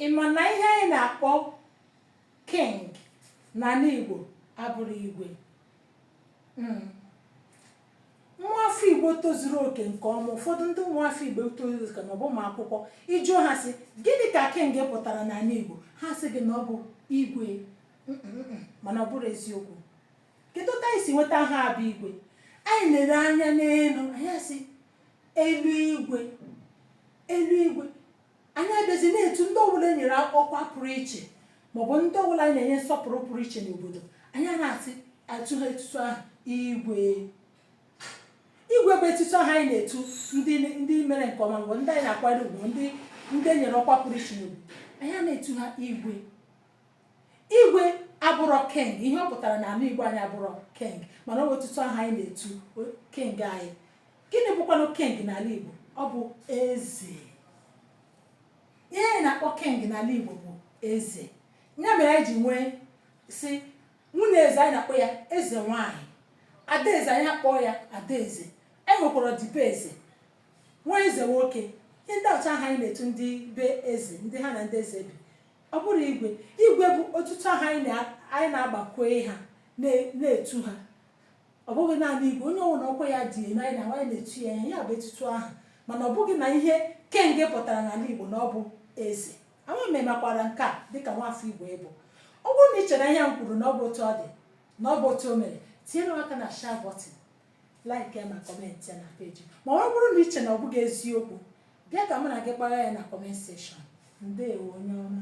Ị ma na ihe anyị na-akpọ king n'ala Igbo abụrọ igwe Mm. nwa afọ igbo tozuru oke nke ọma ụfọdụ ndị nwa afọ igbo tozuru oke ma ọ bụ ụmụ akwụkwọ ị jụọ ha sị gịnị ka king pụtara n'ala igbo ha sị gị na ọ bụ igwe Mm, mm, mm, mana ọ bụrọ eziokwu kedu ka anyị si nweta aha bụ igwe anyị lere anya n'elu anyị asị eluigwe eluigwe Anyị abịazi na-etu ndị ọbụla e nyere ọkwa pụrụ iche maọbụ ndị ọbụla anyị na-enye nsọpụrụ pụrụ iche n'obodo anyị a na-etu ha etutu aha igwe igwe bụ etutu aha anyị na-etu ndị ndị mere nke ọma maọbụ ndị anyị na-akwanyere ugwu ndị ndị e nyere ọkwa pụrụ iche n'obodo anyị a na-etu ha igwe Igwe abụrọ king, ihe ọ pụtara na anị Igbo anyị abụrọ king mana ọ bụ etutu aha anyị na-etu king anyị. Gịnị bụkwanụ king n'ala Igbo? Ọ bụ eze. Ihe anyị na-akpọ king n'ala Igbo bụ eze. Ya mere anyị ji nwee si nwunye eze anyị na-akpọ ya eze nwaanyị adaeze anyị akpọọ ya adaeze anyị nwekwara ọdịbe eze nwa eze nwoke ndị a bụcha aha anyị na-etu ndị be eze ndị ha na ndị eze bi Ọ bụrọ igwe, igwe bụ otutu aha anyị na anyị na-agbakwe ha na na-etu ha. Ọ bụghị naanị igwe, onye ọwụla ọkwa ya dị elu anyị na anyị na-etu ya ihe, ya bụ etutu aha. Mana ọ bụghị na ihe king pụtara n'ala Igbo na ọ bụ eze. Ama m ị makwara nke a dịka nwafọ Igbo ị bụ. Ọ bụrụ na ị chere na ihe a m kwuru na ọ bụ otu ọ dị, na ọ bụ otu o mere, tinyere m aka na share button, like ya ma comment ya na page m. Ma ọ bụrụ na ị chere na ọ bụghị eziokwu, bịa ka mụ na gị kpagha ya na comment section. Ndewo onye ọma.